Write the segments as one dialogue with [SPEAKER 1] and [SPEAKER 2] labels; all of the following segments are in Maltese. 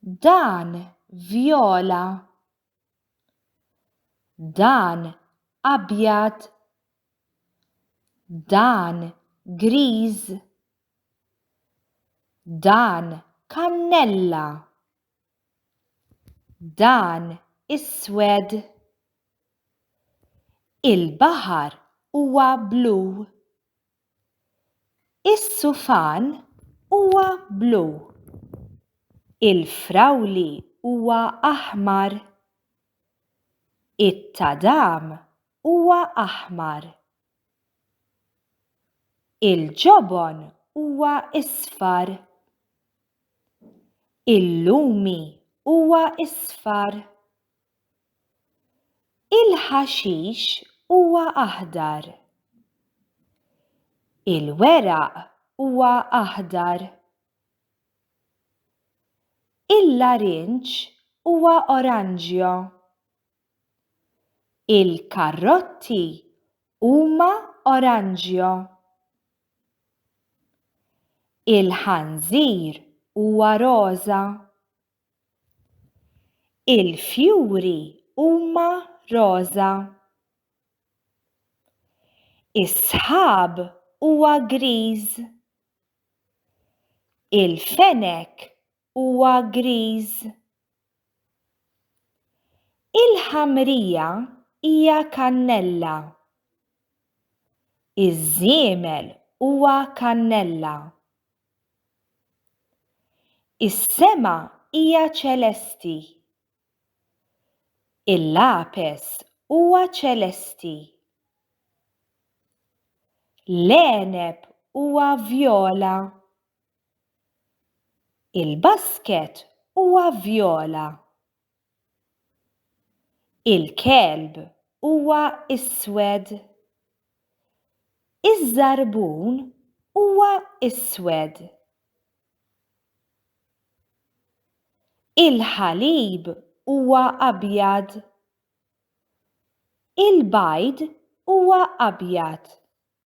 [SPEAKER 1] Dan vjola. Dan abjad. Dan griż. Dan kannella. Dan iswed. Il-baħar huwa blu. Is-sufan huwa blu. Il-frawli huwa aħmar. It-tadam huwa aħmar. Il-ġobon huwa isfar. Il-lumi huwa isfar. Il-ħaxix huwa aħdar. Il-weraq huwa aħdar. Il-larinġ huwa oranġjo. Il-karrotti huma oranġjo. Il-ħanżir huwa roża. Il-fjuri huma roża. Is-sħab huwa griż. Il-fenek huwa griż. Il-ħamrija hija kannella. Iż-żiemel huwa kannella. Is-sema hija ċelesti. Il-lapes huwa ċelesti. L-għeneb huwa vjola. Il-basket huwa vjola. Il-kelb huwa iswed. Iż-żarbun huwa iswed. Il-ħalib huwa abjad. Il-bajd huwa abjad.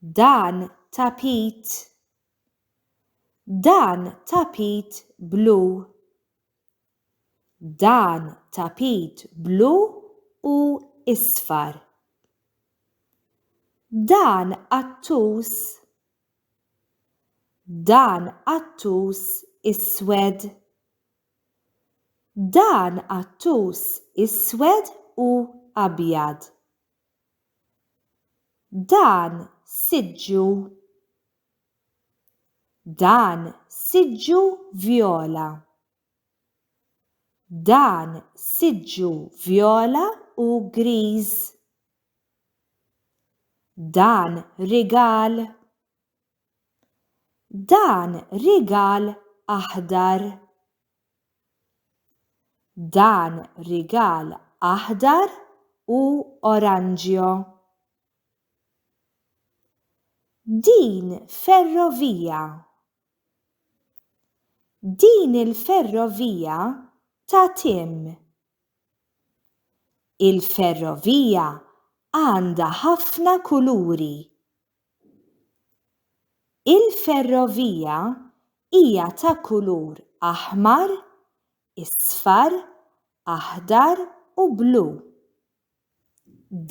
[SPEAKER 1] Dan tapit. Dan tapit blu. Dan tapit blu u isfar. Dan qattus. Dan qattus iswed. Dan qattus iswed u abjad. Dan siġġu Dan siġġu vjola. Dan siġġu vjola u griż. Dan rigal. Dan rigal aħdar. Dan rigal aħdar u oranġjo. Din ferrovija. Din il-ferrovija ta' tim. Il-ferrovija għandha ħafna kuluri. Il-ferrovija hija ta' kulur aħmar, isfar, aħdar u blu.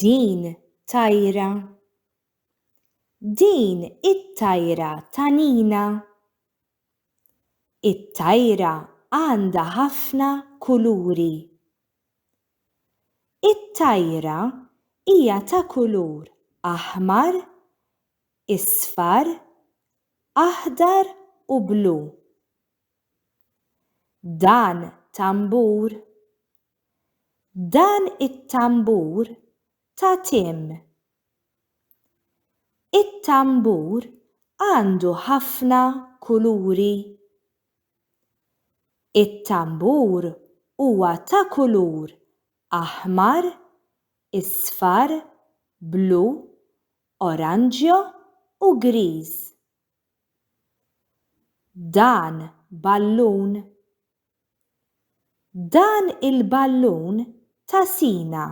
[SPEAKER 1] Din tajra. Din it-tajra ta' Nina. It-tajra għandha ħafna kuluri. It-tajra hija ta' kulur aħmar, isfar, aħdar u blu. Dan tambur Dan it-tambur ta' tim. It-tambur għandu ħafna kuluri. It-tambur huwa ta' kulur aħmar, isfar, blu, oranġjo u griż. Dan ballun. Dan il-ballun ta' sina.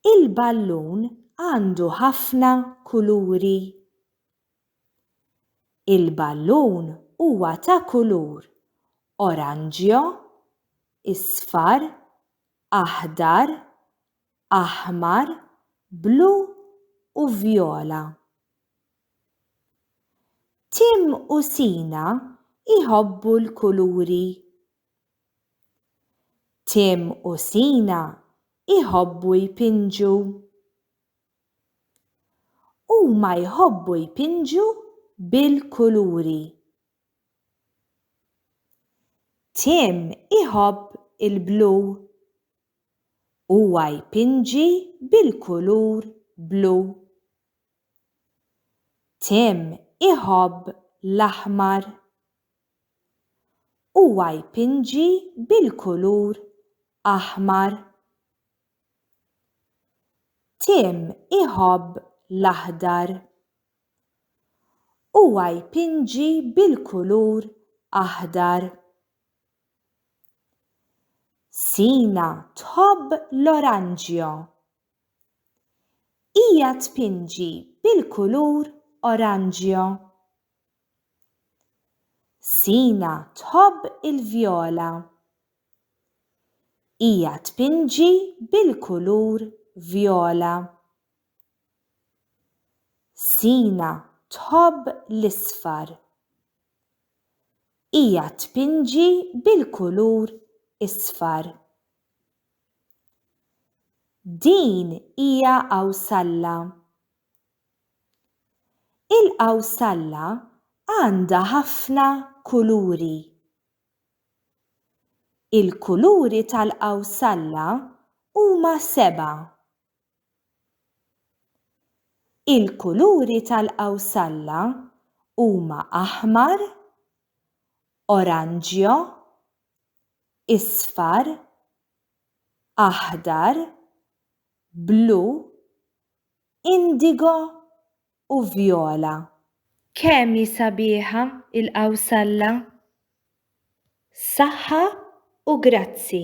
[SPEAKER 1] Il-ballun għandu ħafna kuluri. Il-ballun huwa ta' kulur oranġjo, isfar, aħdar, aħmar, blu u vjola. Tim u Sina jħobbu l-kuluri. Tim u Sina jħobbu jpinġu. Huma jħobbu jpinġu bil-kuluri. Tim iħobb il-blu. Huwa jpinġi bil-kulur blu. Tim iħobb l-aħmar. Huwa jpinġi bil-kulur aħmar. Tim iħobb l-aħdar. Huwa jpinġi bil-kulur aħdar. Sina tħobb l-oranġjo. Hija tpinġi bil-kulur oranġjo. Sina tħobb il-vjola. Hija tpinġi bil-kulur vjola. Sina tħobb l-isfar. Hija tpinġi bil-kulur isfar. Din hija qawsalla. Il-qawsalla għandha ħafna kuluri. Il-kuluri tal-qawsalla huma sebgħa. Il-kuluri tal-qawsalla huma aħmar, oranġjo isfar, aħdar, blu, indigo u vjola. Kemm hi sabiħa il-qawsalla! Saħħa u grazzi!